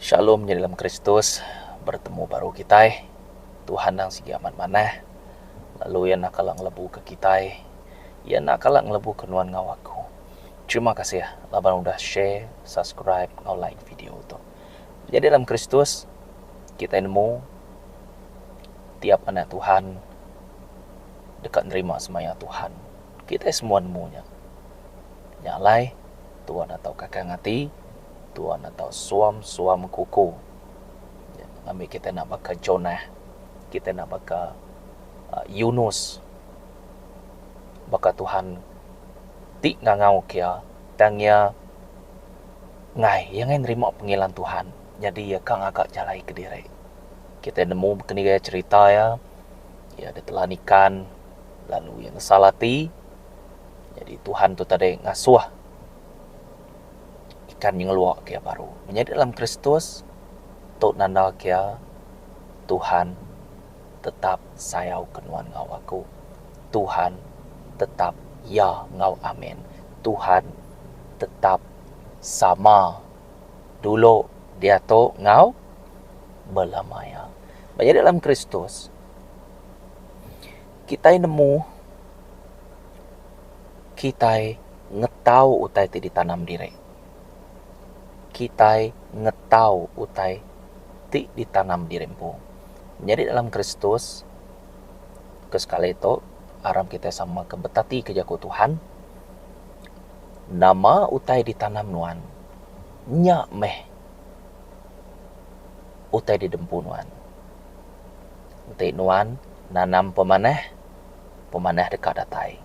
Shalom nya dalam Kristus, bertemu baru kitai. Tuhan endang sigi amat manah, lalu Iya enda kala ngelebuka kitai. Iya enda kala ngelebuka nuan enggau aku. Terima kasih laban udah share, subscribe enggau like video tu. Jadi dalam Kristus, kitai nemu tiap anak Tuhan deka nerima semaya Tuhan. Kitai semua nemu nya. Nya alai, Tuan atau kakang ati, Tuan atau suam-suam kuku. Ngambi kitai enda baka Jonah, kitai enda baka Yunus. Baka Tuhan ti ngangau ke iya, tang iya ngai. Iya ngai nerima pengilan Tuhan, nyadi iya ka ngaga jalai kediri. Kitai nemu bekendiga cherita iya. Iya ditelan ikan, lalu iya ngesal ati. Nyadi Tuhan tu tadi ngasuh ikan nyengeluk iya baru. Menyadi dalam Kristus, tu nandalka iya, Tuhan tetap sayauka nuan enggau aku. Tuhan tetap ya enggau amin. Tuhan tetap sama dulu diatu enggau bala maya. Ba nyadi dalam Kristus, kitai nemu kitai ngetau utai ti ditanam diri. Kitai ngetau utai ti ditanam diri empu. Nyadi dalam Kristus, ke sekali tu, aram kitai sama ke betati ke jaku Tuhan, nama utai ditanam nuan, nya meh. utai di dempu nuan. Enti nuan nanam pemanah, pemanah deka datai.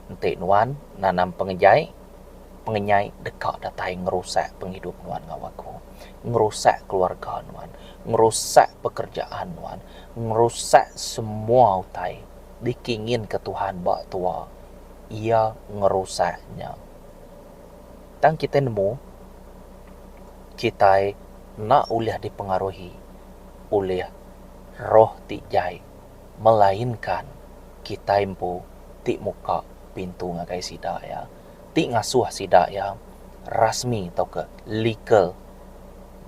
Enti nuan nanam pengejai, pengejai deka datai ngerusak pengidup nuan enggau aku, ngerusak keluarga nuan, ngerusak pekerjaan nuan, ngerusak semua utai dikeinginka Tuhan ba tua. Iya ngerusak nya. Tang kitai nemu, kitai enda ulih dipengaruhi ulih roh ti jai, melainka kitai empu ti muka pintu ngagai sida iya, ti ngasuh sida iya rasmi tauka legal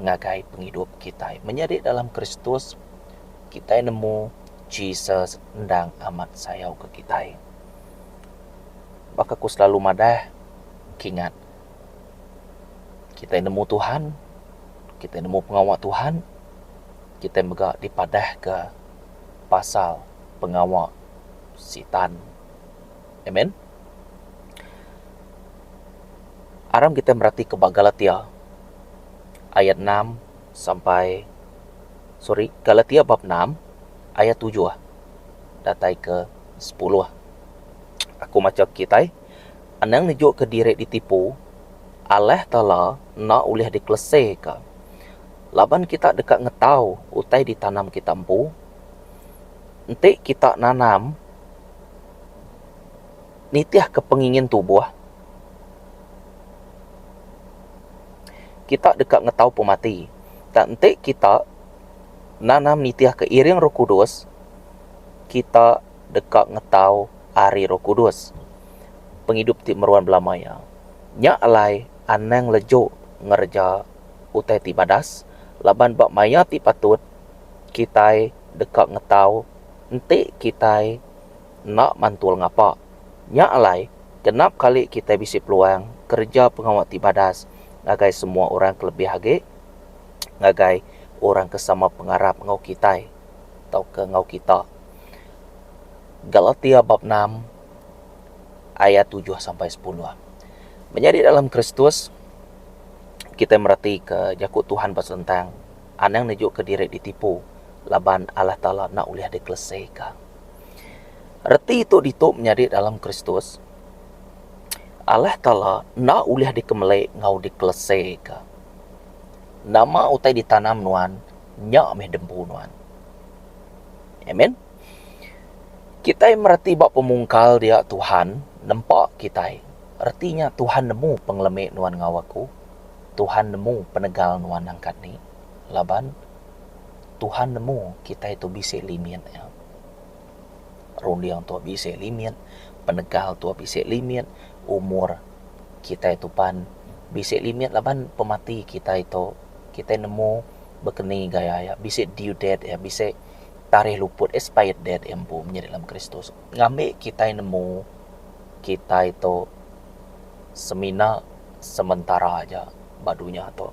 ngagai pengidup kitai. Menyadi dalam Kristus, kitai nemu Jesus endang amat sayauka kitai. Baka aku silalu madah kingat kitai nemu Tuhan, kitai nemu pengawa Tuhan, kitai mega dipadahka pasal pengawa Sitan. Amen. Aram kitai meratika ba Galatia ayat enam sampai sorry Galatia bab enam ayat tujuh. datai ke sepuluh. Aku macha kitai, anang nejuka diri ditipu, alah tala enda ulih dikeleseka. Laban kita deka ngetau utai ditanam kita empu, enti kita nanam nitihka pengingin tubuh, kita deka ngetau pemati. Tang enti kita Nanam nitihka iring Roh Kudus, kita deka ngetau ari Roh Kudus. Pengidup ti meruan belama iya. Nya alai anang leju ngereja utai ti badas laban ba maya ti patut kitai deka ngetau enti kitai enda mantul ngapa. Nya alai genap kali kitai bisi peluang kereja pengawa ti badas ngagai semua orang kelebih agi ngagai orang ke sama pengarap enggau kitai tauka enggau kita. Galatia bab enam ayat tujuh sampai sepuluh. Menyadi dalam Kristus, kitai meratika jaku Tuhan ba sentang, Anang nejuka diri ditipu, laban Allah Taala enda ulih dikelesika. Reti tu ditu menyadi dalam Kristus, Allah Taala enda ulih dikemeli enggau dikelesika. Nama utai ditanam nuan, nya meh diempu nuan. Amen. Kitai mereti ba pemungkal dia Tuhan nempa kitai. Reti nya Tuhan nemu pengelemi nuan enggau aku. Tuhan nemu penegal nuan angkat ni. Laban Tuhan nemu kitai tu bisi limit iya. runding tu bisi limit, penegal tu bisi limit, umur kitai tu pan bisi limit laban pemati kitai tu kitai nemu bekeni gaya iya bisi due date iya bisi tarikh luput expired date iya empu menyadi dalam kristus. Ngambi kitai nemu kitai tu semina sementara aja ba dunya tu.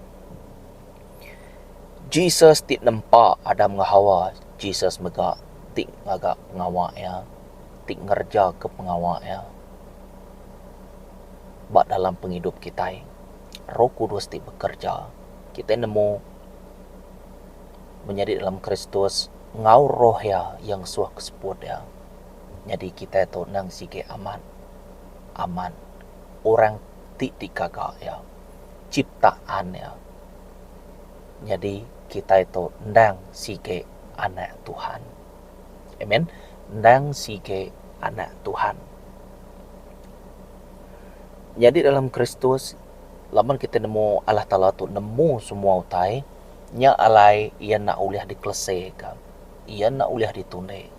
Jesus ti nempa Adam enggau Hawa. Jesus mega ti ngaga pengawa iya, ti ngerejaka pengawa iya ba dalam pengidup kitai. Roh Kudus ti bekereja. Kitai nemu menyadi dalam Kristus enggau roh iya, iya ngesuh ke seput iya. Nyadi kitai tu endang sigi amat amat orang ti dikaga iya, chiptaan iya. Nyadi kitai tu endang sigi anak Tuhan. Amen. Endang sigi anak Tuhan. Nyadi dalam Kristus, laban kitai nemu Allah Taala tu nemu semua utai, nya alai Iya enda ulih dikeleseka. Iya enda ulih ditundi.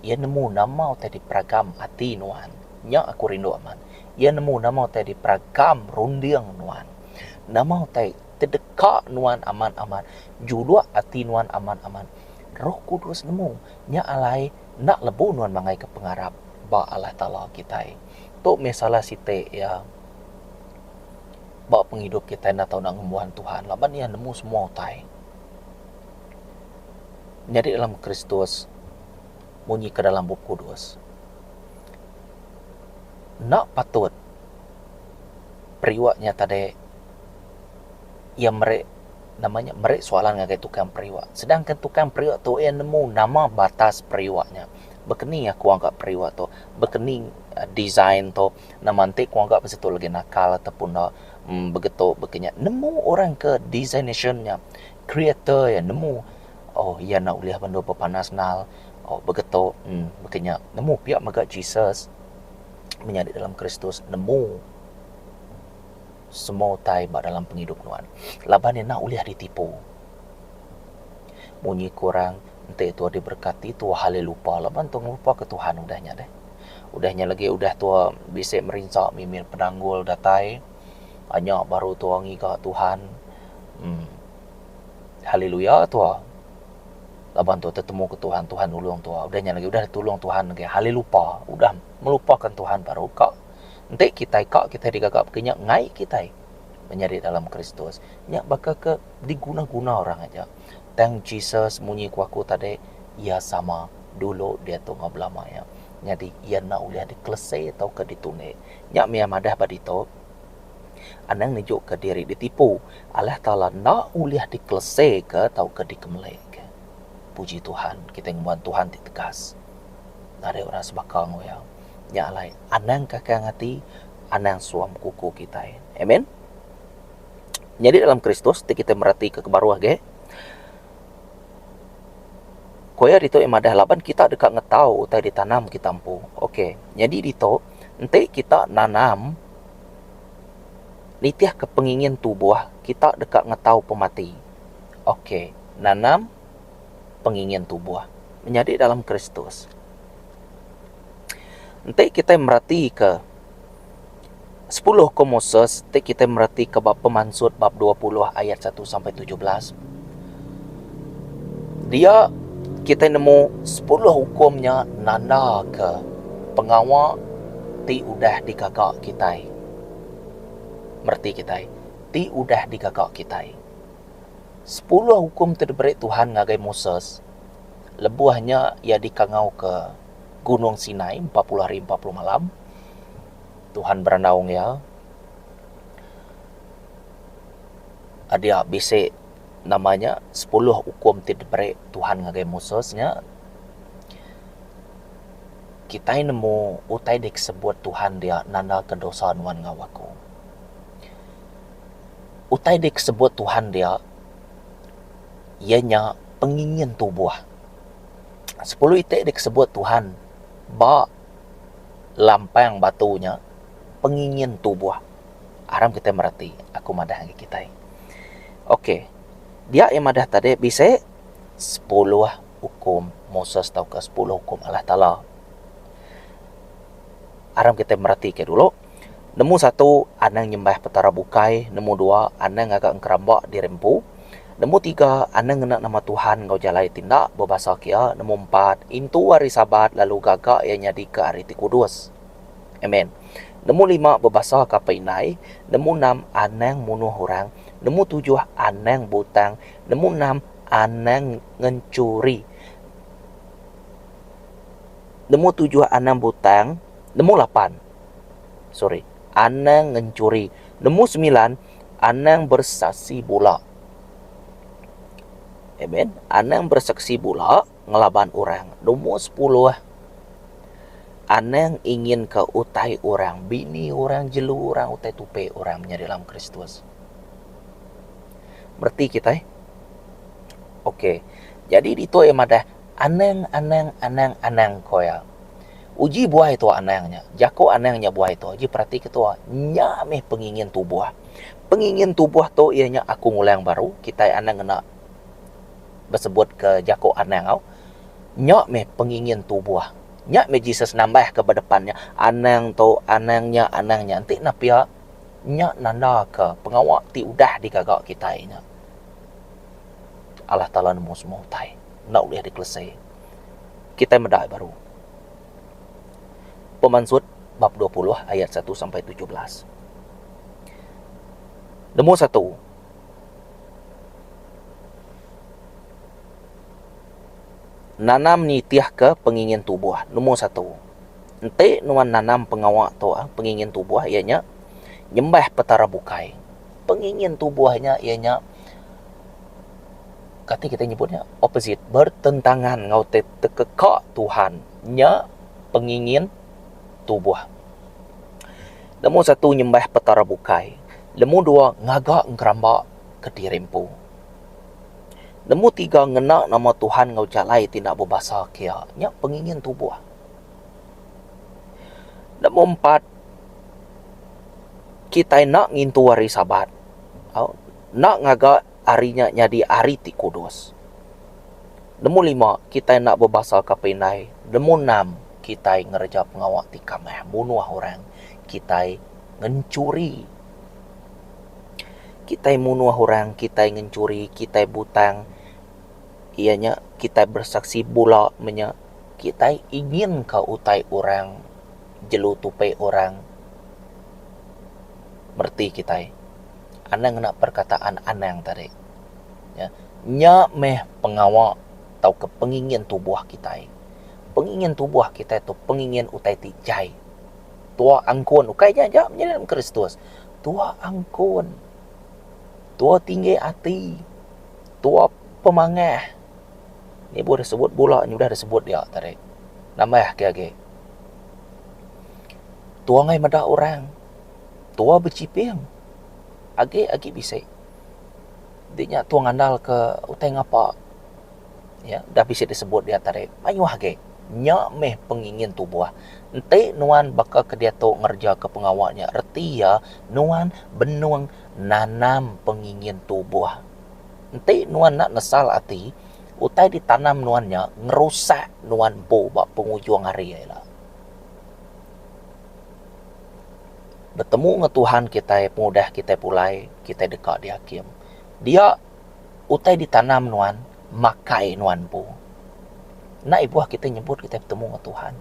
Iya nemu nama utai diperagam ati nuan. Nya aku rindu amat. Iya nemu nama utai diperagam runding nuan. Nama utai tedeka nuan amat-amat, juluk ati nuan amat-amat. Roh Kudus nemu. Nya alai enda lebuh nuan mangaika pengarap ba Allah Taala kitai. Tu meh salah siti iya ba pengidup kitai enda tau ngembuan Tuhan laban iya nemu semua utai. nyadi dalam Kristus, munyi ke dalam Bup Kudus, enda patut periwak nya tadi iya meri nama nya meri soalan ngagai tukang periwak. Sedangkan tukang periwak tu iya nemu nama batas periwak nya. Baka ni aku ngaga periwak tu, baka ni design tu, nama enti ku ngaga bisi tu lagi nakal atau pun enda. Begitu baka nya nemu orang ke designation nya. Creator iya nemu oh iya enda ulih bendu bepanas nal oh begetu en baka nya nemu pia mega Jesus menyadi dalam Kristus nemu semua utai ba dalam pengidup nuan laban iya enda ulih ditipu. Munyi ku orang enti tua diberkati tua alai lupa laban tua ngelupa ke Tuhan udah nya deh. Udah nya lagi udah tua bisi merinsa mimit penanggul datai. Anya baru tua ngiga Tuhan. Em. Haleluya tua. Laban tua tetemuka Tuhan, Tuhan nulung tua. Udah nya agi udah ditulung Tuhan agi halelupa. Udah melupakan Tuhan baru ka. Enti kitai ka kitai digaga baka nya ngai kitai menyadi dalam Kristus. Nya baka ke diguna-guna orang aja. Tang Jesus munyi ku aku tadi, Iya sama dulu diatu enggau belama iya. Nyadi iya enda ulih dikelese tauka ditunik. Nya mia madah ba ditu. Anang nejuka diri ditipu, alah Taala enda ulih dikeleseka tauka dikemelika. Puji Tuhan, kitai ngembuan Tuhan ti tegas. Ngagai orang sebaka enggau iya. Nya alai, anang kakang ati, anang suam kuku kitai. Amen. Nyadi dalam Kristus ti kitai meratika ke baruh agi, Ku iya ditu iya madah laban kita deka ngetau utai ditanam kita empu. Ok. Nyadi ditu. Enti kita nanam nitihka pengingin tubuh, kita deka ngetau pemati. Ok. Nanam pengingin tubuh. Menyadi dalam Kristus. Enti kitai meratika sepuluh ko Moses ti kitai meratika ba Pemansut bab dua puluh ayat satu sampai tujuh belas. dia kitai nemu sepuluh ukum nya nandaka pengawa ti udah digaga kitai. Mereti kitai, ti udah digaga kitai. Sepuluh ukum ti diberi Tuhan ngagai Moses, lebuh nya iya dikangauka Gunung Sinai empat puluh hari empat puluh malam, Tuhan berandau enggau iya. Adia bisi. Nama nya sepuluh ukum ti diberi Tuhan ngagai Moses nya? Kitai nemu utai deka sebut Tuhan dia nandaka dosa nuan enggau aku. Utai deka sebut Tuhan dia iya nya pengingin tubuh. Sepuluh iti deka sebut Tuhan ba lampang batu nya pengingin tubuh. Aram kitai mereti, aku madah ngagai kitai. Ok, dia iya madah tadi bisi sepuluh ukum Moses tauka sepuluh ukum Allah Taala. Aram kitai mereti ka dulu, nemu satu anang nyembah petara bukai, nemu dua anang ngaga engeramba diri empu, nemu tiga anang ngena nama Tuhan enggau jalai ti enda bebasa kia, nemu empat intu hari Sabat lalu gaga iya nyadika hari ti kudus. Amen. Nemu lima bebasa kapa indai, nemu enam anang munuh orang, nemu tujuh anang butang, nemu enam anang ngenchuri, nemu tujuh anang butang, nemu lapan, sorry, anang ngenchuri, nemu semilan anang bersaksi bula. Amen. Anang bersaksi bula. ngelaban orang nombor sepuluh. Anang inginka utai orang, bini orang, jelu orang, utai tupi orang menyadi dalam Kristus. Mereti kitai? Okey. Jadi ditu iya madah, Anang, anang, anang, anang, ko iya. Uji buai tu anang nya. Jaku anang nya buai tu. Uji peratika tu, nya meh pengingin tubuh. Pengingin tubuh tu iya nya aku ngulang baru, kitai anang ngena. besebutka jaku anang au, nya meh pengingin tubuh. Nya meh Jesus nambahka ba depan nya, anang tu, anang nya, anang nya. Enti ne pia, nya nandaka pengawa ti udah digaga kitai nya, Allah Taala nemu semua utai, enda ulih dikelese. Kitai meda ai baru pemansut bab dua puluh ayat satu sampai tujuh belas. Nemu satu. Nanam nitihka pengingin tubuh. Numur satu, enti nuan nanam pengawa tu pengingin tubuh iya nya nyembah Petara bukai. Pengingin tubuh nya iya nya kati kitai nyebut nya opposite, bertentangan enggau tekeka Tuhan. Nya pengingin. tubuh. Lemoh satu nyembah Petara bukai. Lemoh dua ngaga ngeramba ke diri empu. Lemoh tiga ngena nama Tuhan enggau jalai ti enda bebasa kia. Nya pengingin tubuh. Lemoh empat kitai enda ngintu hari Sabat. Au enda ngaga. Ari nya nyadi ari ti kudus. Nemu lima, kitai enda bebasaka pinai. Nemu enam, kitai ngereja pengawa ti kamah, munuh orang. Kitai ngenchuri. Kitai munuh orang, kitai ngenchuri, kitai butang, iya nya kitai besaksi bula menya kitai inginka utai orang, jelu tupi orang mereti kitai. Anang ngena perkataan anang tadi. Nya meh pengawa tauka pengingin tubuh kitai. Pengingin tubuh kitai tu pengingin utai ti jai. Tua angkun, ukai nya aja pengiring Kristus. Tua angkun, tua tinggi ati, tua pemangah. Nya buh deh sebut bula nya udah deh sebut dia tadi. Nambahka agi, tua ngagai meda orang. tua bechiping agi agi bisi di nya tua ngandal ke utai ngapa iya dah bisi disebut diat tadi mayuh agi nya mih pengingin tubuh enti nuan baka ke diatu ngereja ke pengawa nya reti iya nuan benung nanam pengingin tubuh enti nuan enda nesal ati utai ditanam nuan nya ngerusak nuan empu ba pengujung hari ila. Betemu enggau Tuhan kitai pengudah kitai pulai, kitai deka diakim. Dia utai ditanam nuan, makai nuan empu. Enda ibuh kitai nyebut kitai betemu enggau Tuhan.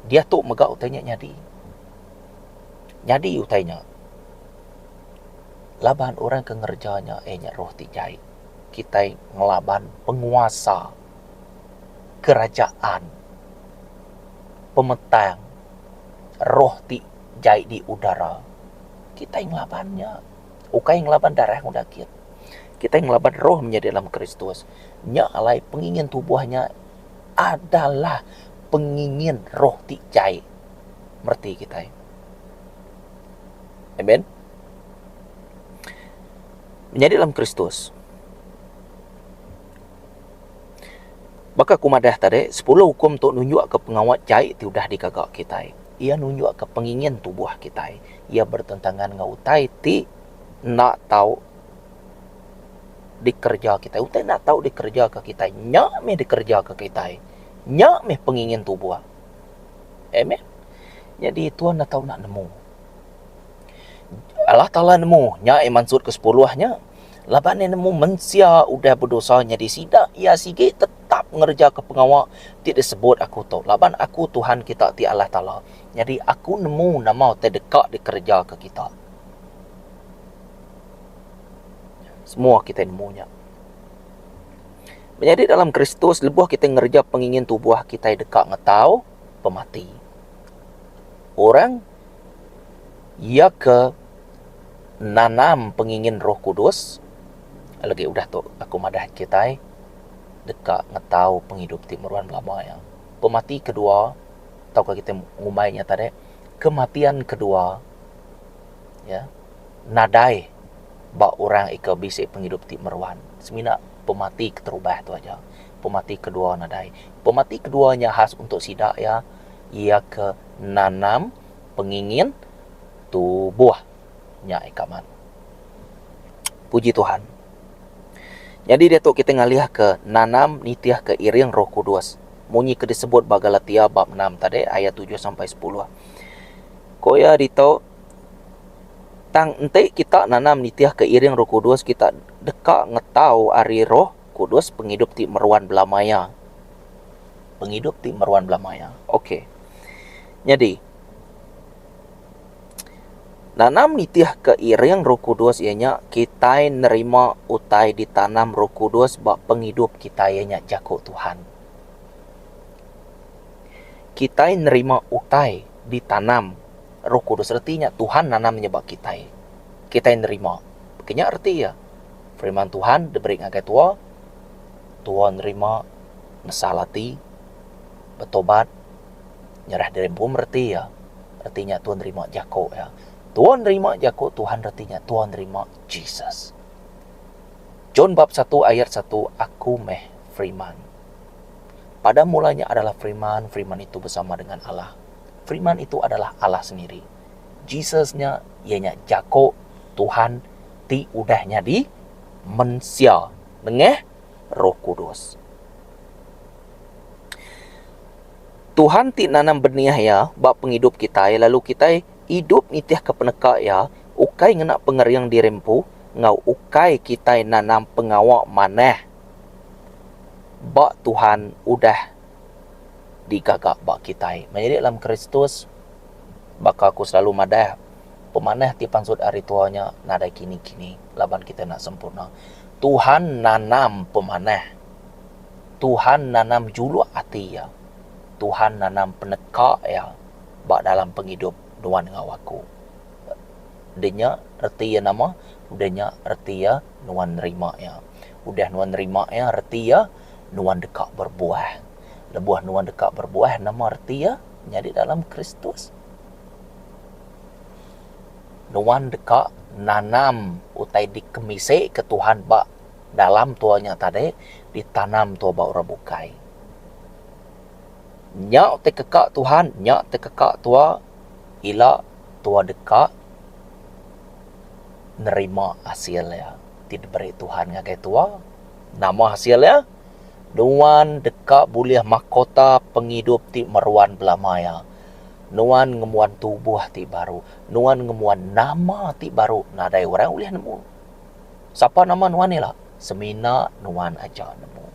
Diatu mega utai nya nyadi. Nyadi utai nya laban orang ke ngereja nya iya nya roh ti jai. Kitai ngelaban penguasa kerajaan pemetang. roh ti jai di udara, kitai ngelaban nya. Ukai ngelaban darah enggau daging. Kitai ngelaban roh nya di dalam Kristus. Nya alai pengingin tubuh nya adalah pengingin roh ti jai mereti kitai. Amen. Menyadi dalam Kristus. Baka aku madah tadi, sepuluh ukum tu nunjukka pengawa jai ti udah digaga kitai. Iya nunjukka pengingin tubuh kitai. Iya bertentangan enggau utai ti enda tau dikereja kitai. Utai enda tau dikereja kitai nya meh dikereja kitai. Nya meh pengingin tubuh. Amen. Nyadi Tuhan enda tau nemu. Allah Taala nemu nya maksud ke sepuluh nya. laban iya nemu mensia udah bedosa nyadi sida, iya sigi tetap ngerejaka pengawa ti disebut Aku tu, laban Aku Tuhan kita ti Allah Taala, nyadi Aku nemu nama ti deka dikerejaka kita. Semua kitai nemu nya. Menyadi dalam Kristus, lebuh kitai ngereja pengingin tubuh kitai deka ngetau pemati. Orang. Iya ke nanam pengingin Roh Kudus, lagi udah tu aku madah kitai deka ngetau pengidup ti meruan belama iya. Pemati kedua tauka kitai ngumbai nya tadi kematian kedua iya nadai ba orang iko bisi pengidup ti meruan semina pemati keterubah tu aja. Pemati kedua nadai. Pemati kedua nya khas untuk sida iya iya ke. nanam pengingin tubuh nya ika mat. Puji Tuhan. Nyadi diatu kitai ngalihka nanam nitihka iring Roh Kudus. Munyi ke disebut ba Galatia bab enam tadi ayat tujuh sampai sepuluh. Ko iya ditu tang enti kita nanam nitihka iring Roh Kudus kita deka ngetau ari Roh Kudus, pengidup ti meruan bela maya. Pengidup ti meruan bela maya. Ok. Nyadi, nanam nitihka iring Roh Kudus iya nya kitai nerima utai ditanam Roh Kudus ba pengidup kitai iya nya jaku Tuhan. Kitai nerima utai ditanam Roh Kudus reti nya Tuhan nanam nya ba kitai. Kitai nerima. Baka nya reti iya. Firman Tuhan diberi ngagai tua, tua nerima, nesal ati, betobat, nyerah diri empu mereti iya. Reti nya tua nerima jaku iya. Tua nerima jaku Tuhan reti nya tua nerima Jesus. John bab 1 ayat 1 Aku meh Firman. Pada mula nya adalah Firman, Firman itu bersama dengan Allah. Firman itu adalah Allah sendiri. Jesus nya iya nya jaku Tuhan ti udah nyadi mensia nengah Roh Kudus. Tuhan ti nanam benih iya ba pengidup kitai lalu kitai idup nitihka peneka iya ukai ngena pengering diri empu enggau ukai kitai nanam pengawa manah ba Tuhan udah digaga ba kitai. Menyadi dalam Kristus, baka aku selalu madah, pemanah ti pansut ari tua nya nadai kini-kini laban kitai enda sempurna. Tuhan nanam pemanah. Tuhan nanam juluk ati Iya. Tuhan nanam peneka Iya ba dalam pengidup nuan enggau aku. Udah nya reti iya nama? Udah nya reti iya nuan nerima Iya. Udah nuan nerima Iya, reti iya nuan deka berbuah. Lebuh nuan deka berbuah, nama reti iya? Nyadi dalam Kristus, nuan deka nanam utai dikemisika Tuhan ba dalam tua nya tadi, ditanam tua ba orang bukai. Nya ti keka Tuhan, nya ti keka tua, ila tua deka nerima asil iya ti diberi Tuhan ngagai tua. Nama hasil iya? Nuan deka bulih makota pengidup ti meruan belama iya. Nuan ngembuan tubuh ti baru. Nuan ngembuan nama ti baru nadai orang ulih nemu. Sapa nama nuan ila? Semina nuan aja nemu.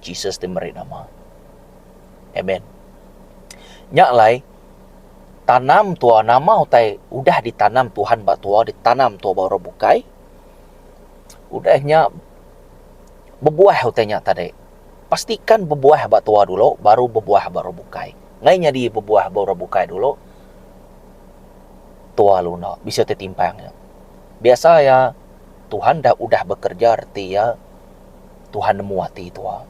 Jesus ti meri nama. Amen. Nya alai, tanam tua nama utai udah ditanam Tuhan ba tua, ditanam tua ba orang bukai? Udah nya bebuah utai nya tadi. Pastikan bebuah ba tua dulu baru bebuah ba orang bukai. Ngai nyadi bebuah ba orang bukai dulu tua lalu enda bisi utai timpang nya. Biasa iya Tuhan dah udah bekerja reti iya Tuhan nemu ati tua.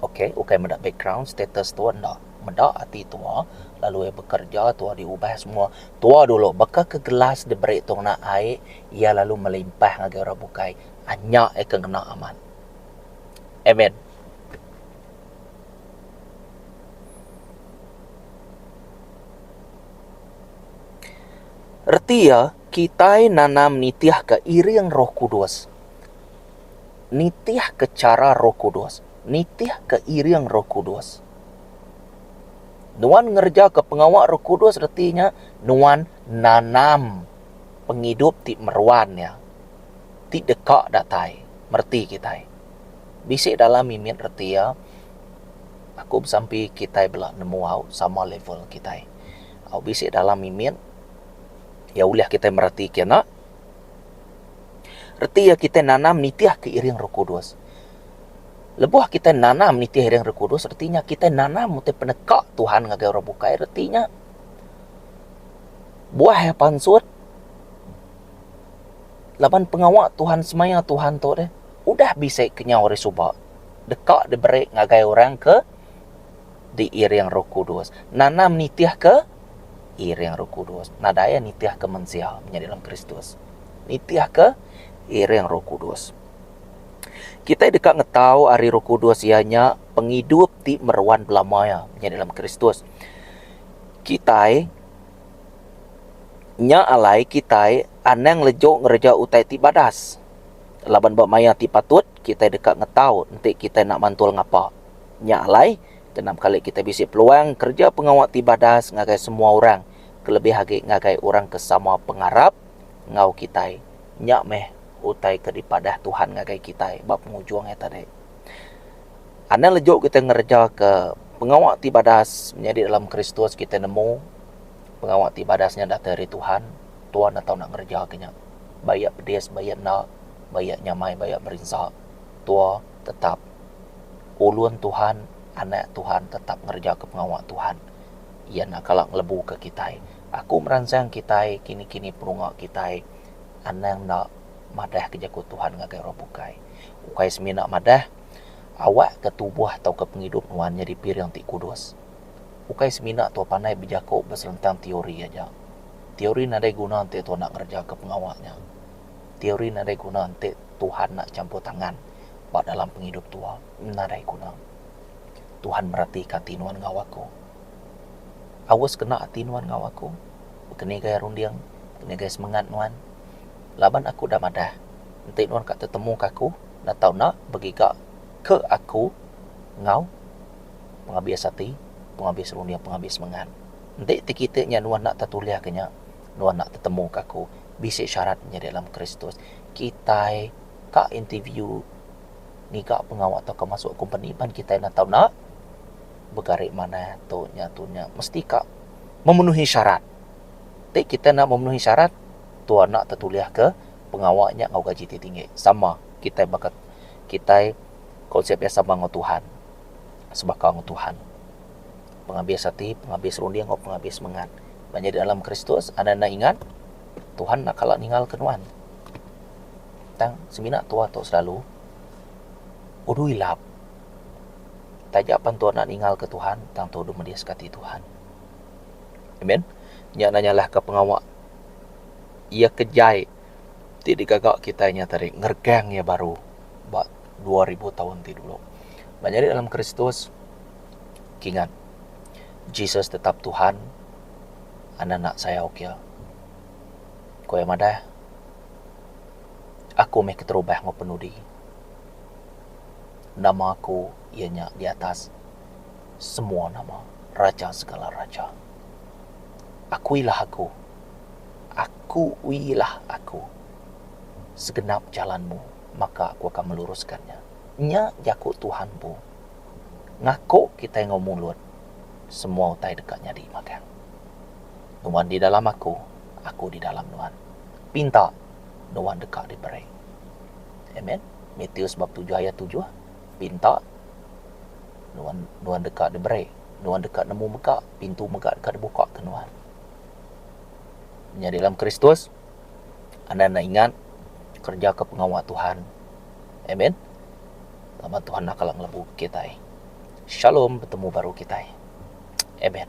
Okay ukai meda background status tua enda. Meda ati tua lalu iya bekerja tua diubah semua tua dulu baka ke gelas diberi tu ngena ai iya lalu melimpah ngagai orang bukai anya iya ke ngena amat. Amen. Reti iya kitai nanam nitihka iring roh kudus. Nitihka chara roh kudus. Nitihka iring roh kudus. Nuan ngerejaka pengawa Roh Kudus reti nya nuan nanam pengidup ti meruan nya ti deka datai mereti kitai. Bisi dalam mimit reti iya aku besampi kitai bela nemu au sama level kitai. Au bisi dalam mimit iya ulih kitai mereti kena reti iya kitai nanam nitihka iring Roh Kudus. Lebuh kitai nanam nitih ring Roh Kudus, reti nya kitai nanam utai peneka Tuhan ngagai orang bukai. Reti nya, buah iya pansut laban pengawa Tuhan semaya Tuhan tu deh udah bisi kenyau ari suba deka diberi ngagai orang ke diiring Roh Kudus. Nanam nitihka iring Roh Kudus. Nadai iya nitihka mensia menyadi dalam Kristus. Nitihka iring Roh Kudus. Kitai deka ngetau ari Roh Kudus iya nya pengidup ti meruan belama iya nya dalam Kristus. Kitai nya alai kitai anang lejong ngereja utai ti badas. Laban ba maya ti patut kitai deka ngetau enti kitai enda mantul ngapa. Nya alai kena kali kitai bisi peluang ngereja pengawa ti badas ngagai semua orang kelebih agi ngagai orang ke sama pengarap enggau kitai. Nya meh. utai ke dipadah Tuhan ngagai kitai ba pengujung hari tadi. Anang leju kitai ngerejaka pengawa ti badas menyadi dalam Kristus, kitai nemu pengawa ti badas nya datai ari Tuhan. Tuhan enda tau enda ngerejaka nya. Ba Iya pedis, ba Iya enda, ba Iya nyamai, ba Iya merinsa, tuah tetap ulun Tuhan, anak Tuhan tetap ngerejaka pengawa Tuhan. Iya enda kala ngelebuka kitai. Aku meransang kitai kini-kini perunga kitai. anang enda madahka jaku Tuhan ngagai orang bukai. Ukai semina madah, awakka tubuh tauka pengidup nuan nyadi piring ti kudus. Ukai semina tuah panai bejaku beselentang teori aja. Teori nadai guna enti tuah enda ngerejaka pengawa nya. Teori nadai guna enti Tuhan enda champur tangan ba dalam pengidup tuah. Nadai guna. Tuhan meratika ati nuan enggau aku. Aus kena ati nuan enggau aku? Baka ni gaya runding, baka ni gaya semengat nuan. Laban aku udah madah, enti nuan ka tetemu ka aku enda tau enda begiga ke aku enggau pengabis ati, pengabis runding, pengabis semengat. Enti ti kiti nya nuan enda tetulih ke nya, nuan enda tetemu ka aku. Bisi syarat nyadi dalam Kristus. Kitai ka interview ngiga pengawa tauka masu kompeni pan kitai enda tau enda begari manah tu nya tu nya. Mesti ka. Memenuhi syarat. Ti kita enda memenuhi syarat, tu anak tetulihka pengawa nya enggau gaji ti tinggi. Sama kitai baka kitai konsep iya sama enggau Tuhan, sebaka enggau Tuhan. Pengabis ati, pengabis runding enggau pengabis semengat. Nya nyadi dalam Kristus, anang enda ingat, Tuhan enda kala ningalka nuan. Tang semina tuah tu selalu, Udu ilap. Taja pan tua enda ningalka Tuhan, tang tua deh mediska ati Tuhan. Amen. Nya enda nyalahka pengawa iya ke jai ti digaga kitai nya tadi ngeregang iya baru ba dua ribu taun ti dulu. Ba nyadi dalam Kristus kingat Jesus tetap Tuhan enda enda sayau ke iya. Ku iya madah, Aku meh keterubah enggau penudi. Nama aku iya nya di atas semua nama, raja segala raja. Akuilah aku, akuilah aku, segenap jalanmu maka aku akan meluruskan nya. Nya jaku Tuhan empu. Ngaku kitai enggau mulut, semua utai deka nyadi magang. Nuan di dalam aku, aku di dalam nuan. Pinta, nuan deka diberi. Amen. Matius bab tujuh ayat tujuh, Pinta, nuan nuan deka diberi, nuan deka nemu mega, pintu mega deka dibuka ke nuan. Menyadi dalam Kristus, anda enda ingat kerja ke pengawa Tuhan. Amen. Laban Tuhan enda kala ngelebu kitai. Shalom betemu baru kitai. Amen.